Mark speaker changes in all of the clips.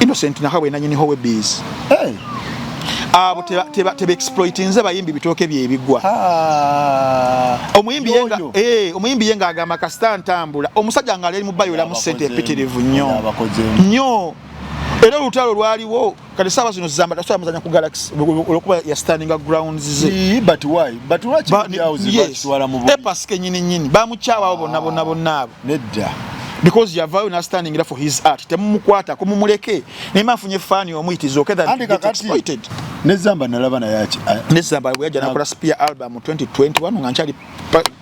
Speaker 1: Innocent Nahabwe
Speaker 2: nanyini howe bees hey. abo tebexploitinze bayimbi bitooke byebigwa ah. eh, omuyimbi ye ngaagamba kasita ntambula omusajja nga ali mubayolamu sente empitirivu nnyo nnyo era olutalo lwaliwo kati saawa zino zamba tasobola muzanya ku galaxy olwokuba ya standinga grounds ze but why but
Speaker 1: lwaki yes e paske nyini nyini
Speaker 2: bamukyawa abo bonna bonna bonna abo nedda
Speaker 1: because yavayo
Speaker 2: nastanningira for his art temumukwata kumumuleke nayema afunye fani omu it is okay that get exploited nezamba nalaba
Speaker 1: naye aki nezamba bweyaja nakola
Speaker 2: spear album 2021 nga nkyali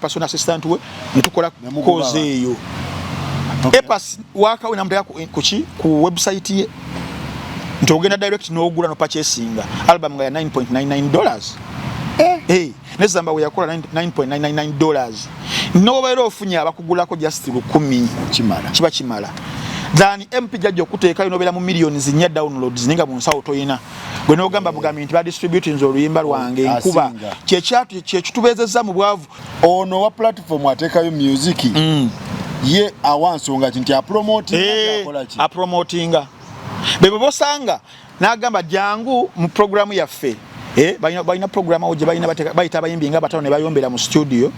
Speaker 2: personal assistant we netukola koze eyo epas wakawe namuteka kuki ku website ye nti ogenda direct nogula nopachesinga album nga ya 9.99 dollars eh. Hey. Eh. ne zamba we yakola 9.999 dollars nobeera ofunye abakugulako just lukumi kimala kiba kimala than mp jajja okuteekayo nobeera mu millioni zinya downloads ninga mu nsawo toyina gwe nogamba bugambi nti badistributinze oluyimba lwange oh, nkuba kyekitubeezezza mu bwavu ono wa platform
Speaker 1: ateekayo musiki mm. ye awa nsonga ki nti apromotinga eh, bebo bosanga n'agamba jangu mu programu yaffe eh, balina programu awo gye balina bayita abayimbi nga batano ne bayombera mu studio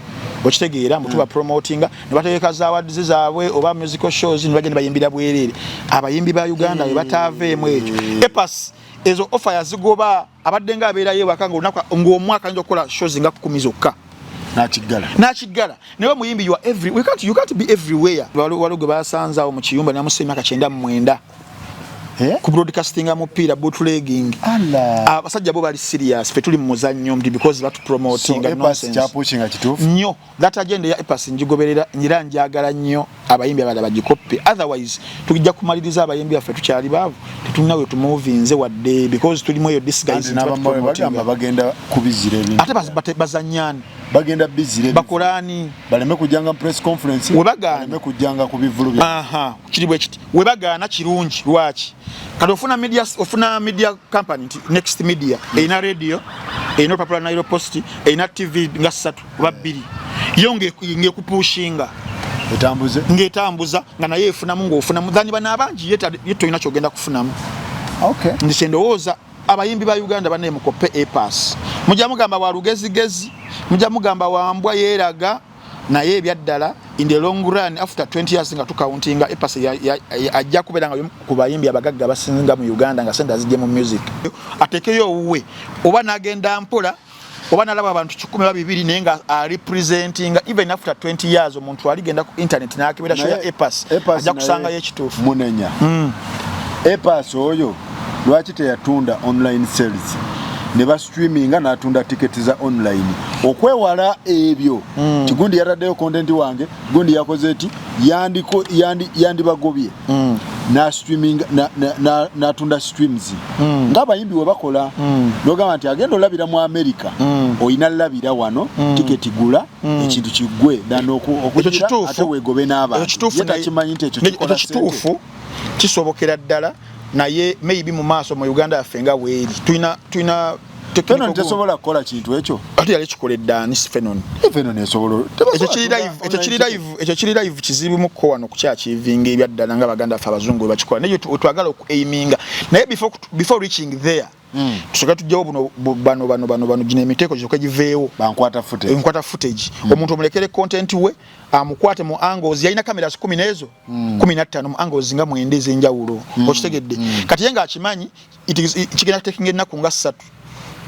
Speaker 1: okitegeera mbu tuba mm. promotinga ne bategeka za awards zaabwe oba musical shows ne bagenda bayimbira bwereere abayimbi ba uganda we bataaveemu ekyo mm. epas ezo offer yazigoba abadde nga abeerayo ewaka ng'omwaka ayinza okukola shows nga kumi zokka nakiggala nakiggala naye omuyimbi you are every we can't, you can't be everywhere waliwo gwe basanze awo mu kiyumba namusa emyaka kyenda mu mwenda Eh? ku broadcasting mupiira bootlegging abasajja bo bali serious fe tuli mu muzannyo mti because batu promoting so, nonsense nnyo that agenda ya epas njigoberera nyira njagala nnyo abayimbi abala bagikoppe otherwise tujja kumaliriza abayimbi affe tukyali baavu tetulina we tumuvinze wadde because tulimu eyo disguise bagenda kubizira ebintu ate bazanyani
Speaker 2: bagenda bizire
Speaker 1: bakolani baleme
Speaker 2: kujanga
Speaker 1: press conference webagane baleme kujanga ku bivulu bya aha kiri bwe kiti
Speaker 2: webagaana kirungi lwaki kati ofuna media ofuna media company nti next media erina radio erina olupapula nairo post erina tv nga ssatu oba bbiri yo ngekupushinga ng'etambuza nga naye efunamu ng'ofunamu thani bano abangi ye tolina kyogenda kufunamu nti kyendowooza abayimbi ba uganda banaye mukoppe epas mujja mugamba wa lugezigezi mujja mugamba wambwa yeeraga naye ebyaddala in the long run after 20 years nga tukauntinga epase ajja kubeera nga ku bayimbi abagagga abasinga mu uganda nga sente azijje mu music atekeyo owuwe oba nagenda mpola oba nalaba abantu kikumi oba bibiri naye nga arepresentinga even after 20 years omuntu aligenda ku internet nakebera shoya epas ajja kusangayo ekituufu munenya mm.
Speaker 1: epas oyo lwaki teyatunda online sales ne ba streaminga n'atunda tiketi za online okwewala ebyo mm. tigundi yataddeyo content wange gundi yakoze eti yandibagobye mm. n'atunda streams mm. ng'abayimbi we bakola mm. nogamba nti agenda olabira mu amerika mm. olina labira wano mm. tiketi gula mm. ekintu kiggwe danokuate wegobe n'abantu ye nakimanyi nti ekyo kikola sente
Speaker 2: kisobokera ddala naye maybe mu maaso mu Uganda yaffe nga weeri tulina tulina Fenon
Speaker 1: tesobola kukola kintu ekyo ati yali kikola eddaani
Speaker 2: Fenon eh, Fenon esobola
Speaker 1: ekyo kiri live ekyo kiri
Speaker 2: live ekyo kiri live kizibu mu ko wano kukya kivinga ebyaddala nga baganda ffe abazungu bwe bakikola naye twagala oku aiminga naye before before reaching there Mm. Tusoka tujjawo buno bano bano bano bano gino emiteko gyoka giveewo. Bankwata footage. Enkwata
Speaker 1: footage.
Speaker 2: Mm. Omuntu omulekere content we amukwate mu angles yalina kamera kumi n'ezo mm. kumi na ttaano mu angles nga mwenda ez'enjawulo. Mm. Okitegedde. Mm. Kati ye ng'akimanyi kigenda kutekinga ennaku nga ssatu.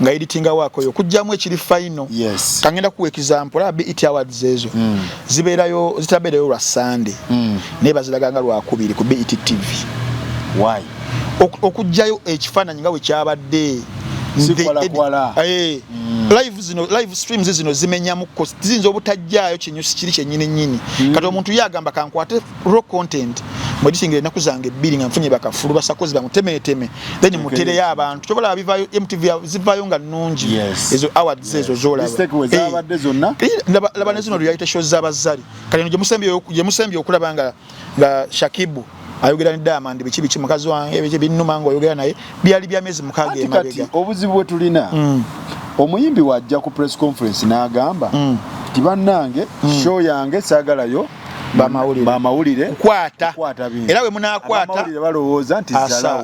Speaker 2: nga editinga wako yo kujjamu ekiri final yes. kangenda kuwa example la BET awards ezo mm. zibeerayo zitabeerayo lwa Sunday mm. naye baziraganga lwakubiri ku BET TV why
Speaker 1: okujjayo
Speaker 2: ekifaananyi nga bwe kyabadde eh, mm. live streams zino zimenyamuko ziyinza obutajjaayo kinyusi kiri kyenyini nyini mm. kati omuntu ye agamba kankwate raw content mwedisingira ennaku zange ebbiri nga nfunye bakafulu basakozi bamutemeteme then mutereyo abantu kyobalaba bivayo mtv zivayo nga nnungi ezo awards ezo zolabalaba eh, nezino reality shows zabazali kati eno gyemusembye okulaba nga nga shakibu ayogera ne diamond biki biki mukazi wange biki binnuma nga oyogera naye byali bya myezi mukaaga emabega obuzibu bwe tulina
Speaker 1: mm. omuyimbi wajja ku press conference n'agamba mm. nti mm. bannange mm. show yange saagalayo bamawulire bamawulire kwata era bwe munaakwata balowooza nti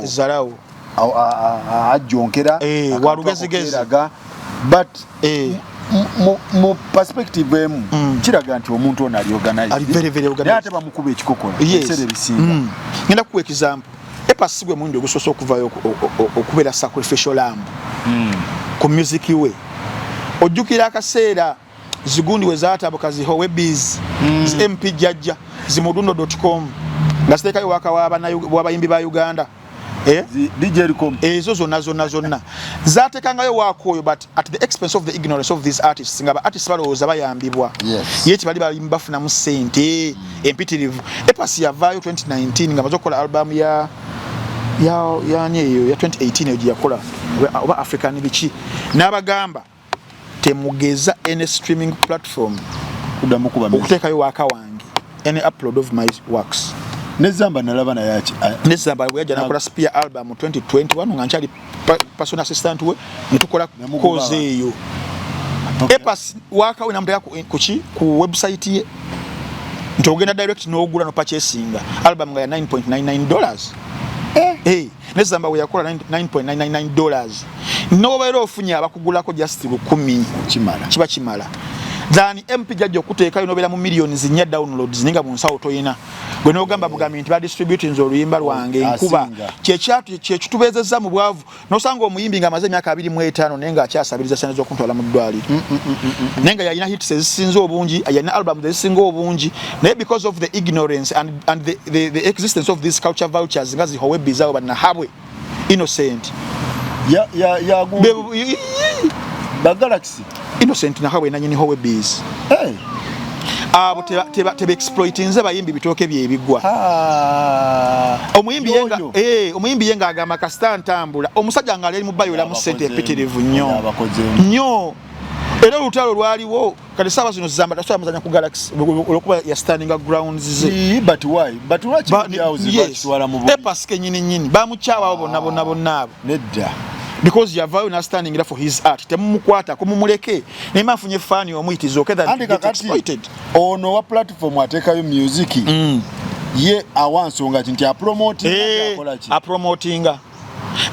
Speaker 1: zalawo
Speaker 2: ajjonkera
Speaker 1: eh,
Speaker 2: walugezigeziraga
Speaker 1: but eh. mu perspective emu mm. kiraga nti omuntu ono ali organizednaye ate bamukuba ekikokola ebiseera ebisinga mm. ngenda kuwa example
Speaker 2: epasi gwe mundi ogusoose okuvayo okubeera sacrificial lamb mm. ku music we ojjukira akaseera zigundi we zaatabuka zihowe biz mm. zi mp jajja zimudundo com nga ziteekayo waka w'abayimbi ba uganda
Speaker 1: eh? ezo zonna
Speaker 2: zonna zonna zatekangayo waako oyo but at the expense of the ignorance of these artists nga ba artists balowooza bayambibwa ye tibali balimu bafunamu sente mm. empitirivu epasi yavaayo 2019 nga maze okukola albamu ya yani eyo ya 2018 eyo gyeyakola oba african biki n'abagamba temugeza any streaming platform kudamu kuba okutekayo waka wange any upload of my works nezamba nalaba
Speaker 1: naye aki nezamba bwe yajja nakola
Speaker 2: spear album 2021 nga nkyali personal assistant we ntukola koze eyo okay. epas waka we namuteka kuki ku website ye nti ogenda direct nogula no purchasing album nga ya 9.99 dollars eh hey. ne zamba weyakola 9.999 dollars nobeera ofunye abakugulako just lukumi kimala kiba kimala than mp jajja okuteekayo nobeera mu millioni zinya downloads ninga munsawo toyina gwe nogamba bugambi nti badistributinze oluyimba lwange nkuba kyekyatu kyekitubeezezza mu bwavu nosanga omuyimbi nga amaze emyaka abiri mu etaano naye nga akyasabiriza sente z'okuntwala mu ddwaliro mm, mm, mm, naye nga yalina hits ezisinza obungi yalina albums ezisinga obungi naye because of the ignorance and and the, the, the existence of these culture vouchers nga zihowe bizawo banahabwe innocent ya ya ya gu
Speaker 1: ba galaxy innocent na habwe
Speaker 2: nanyini howe biz hey abo teba teba tebe exploit nze bayimbi bitoke bye bigwa ah. omuyimbi yenga eh omuyimbi yenga agama kastan tambula omusaja ngale mu bayo la musente pitirivu nyo nyo era lutalo lwaliwo kati saawa zino zamba tasobola muzanya ku galaxy olwokuba ya standing grounds ze ee but why but
Speaker 1: lwaki byawuzi bakitwala mu bubi epa sike nyini nyini
Speaker 2: bamukyawawo bonna bonna bonna abo nedda
Speaker 1: because yavayo
Speaker 2: na standing era for his art temumukwata kumumuleke naye mafunye fani omu it is okay that get exploited ono wa
Speaker 1: platform atekayo music mm. ye awa nsonga ki nti apromotinga hey, eh, akola ki apromotinga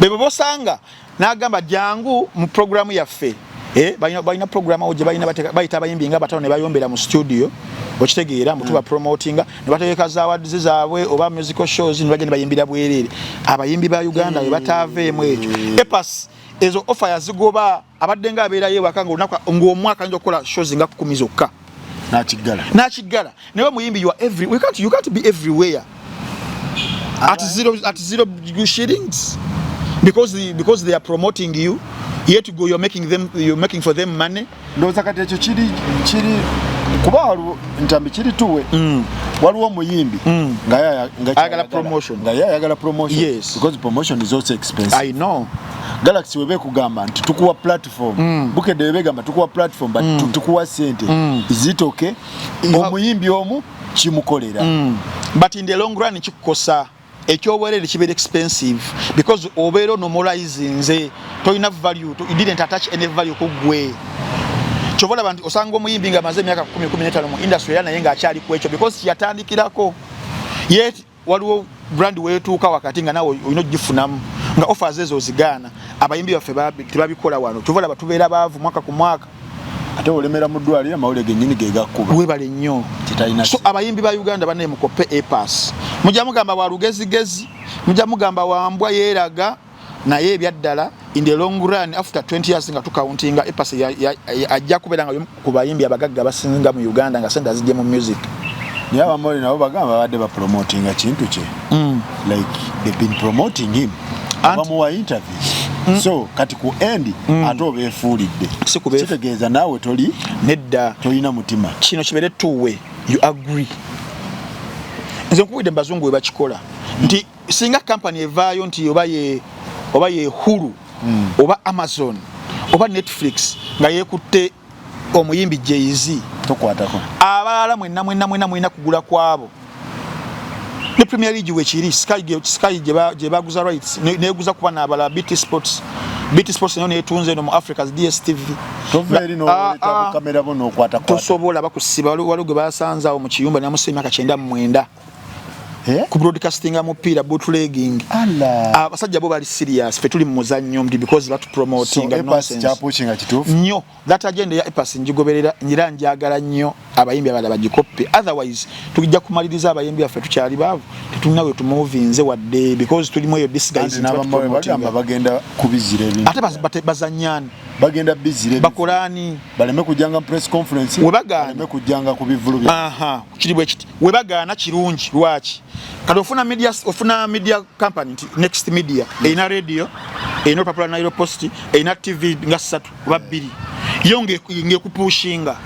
Speaker 2: bebo bosanga n'agamba jangu mu programu yaffe eh, balina programu awo gye balina bayita abayimbi nga batano ne bayombera mu studio okitegeera mbu tuba mm. promotinga ne bategeka za awards zaabwe oba musical shows ne bagenda bayimbira bwereere abayimbi ba uganda we bataaveemu ekyo mm. epas ezo offer yazigoba abadde nga abeerayo ewaka ng'omwaka ayinza okukola shows nga kumi zokka nakiggala nakiggala naye omuyimbi you are every we can't, you can't be everywhere at zero, at zero shillings because, the, because they are promoting you yet go you're making them you're making for them money ndoza kati ekyo kiri
Speaker 1: kiri kuba waliwo ntambi kiri tuwe mm. waliwo omuyimbi mm. ngayagala promotion ngaye ayagala promotion yes because promotion
Speaker 2: is also
Speaker 1: expensive i know
Speaker 2: galaxy webe
Speaker 1: kugamba nti tukuwa platform platform mm. bukedde bebegamba tukuwa platform but mm. tukuwa sente mm. is it okay omuyimbi omu kimukolera mm. but in
Speaker 2: the long run kikukosa ekyobwerere kibeera expensive because obeera onomolize nze tolina value to, you didn't attach any value kugwe kyova olaba nti osanga omuyimbi nga amaze emyaka 1 15 mu industry era naye ngaakyali ku ekyo because yatandikirako yet waliwo brand wetuuka wakati nga nawe olina ogifunamu nga offers ezo ozigaana abayimbi baffe tebabikola wano kyova laba tubeera baavu mwaka ku mwaka ate olemera
Speaker 1: mu ddwaliro amawulire genyini gegakkuba webale nnyo
Speaker 2: so abayimbi ba uganda banaye mukoppe epas mujja mugamba wa lugezigezi mujja mugamba wambwa yeeraga naye ebyaddala in the long run after 20 years nga tukauntinga epase ajja kubeera nga ku bayimbi abagagga abasinga mu uganda nga sente azijje mu music naye abamoli
Speaker 1: nabo bagamba babadde bapromotinga kintu kye mm. like they've been promoting him abamuwa interviews mm. so kati ku end mm. ate obeefuulidde kitegeeza naawe toli nedda tolina
Speaker 2: mutima
Speaker 1: kino kibeere
Speaker 2: tuwe you
Speaker 1: agree
Speaker 2: nze nkubidde mu bazungu we bakikola nti singa company evaayo nti oba ye oba ye Hulu mm. oba Amazon oba Netflix nga yekutte omuyimbi Jay-Z tokwatako
Speaker 1: abalala mwenna
Speaker 2: mwenna mwenna mulina kugula kwabo ne Premier League wekiri Sky Sky gye baguza rights neguza kuba n'abalala BT Sports BT Sports nayo netunze no mu Africa's DStv
Speaker 1: ah, ah. tosobola bakusiba
Speaker 2: waliwo gwe basanze awo mu kiyumba namusa emyaka kyenda mu mwenda Eh? ku broadcastinga mupiira bootlegging abasajja bo bali serious fe tuli mu muzannyo mti because batu promoting so, nonsense nnyo
Speaker 1: that agenda
Speaker 2: ya epas njigoberera nyira njagala nnyo abayimbi abala bagikoppe otherwise tujja kumaliriza abayimbi affe tukyali baavu tetulina we tumuvinze wadde because tulimu eyo disguise bagenda
Speaker 1: kubizira ebintu ate bazanyani
Speaker 2: bagenda bizire
Speaker 1: bakolani baleme
Speaker 2: kujanga
Speaker 1: press conference webagana baleme kujanga ku bivulu bya aha kiri bwe
Speaker 2: kiti webagaana kirungi lwaki kati ofuna media ofuna media company nti next media erina radio erina olupapula nairo post erina tv nga ssatu oba bbiri yo ngekupushinga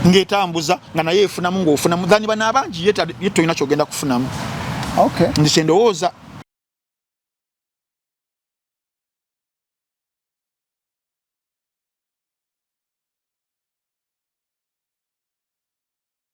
Speaker 2: ng'etambuza nga naye efunamu ng'ofunamu thani bano abangi ye tolina kyogenda kufunamu nti kyendowooza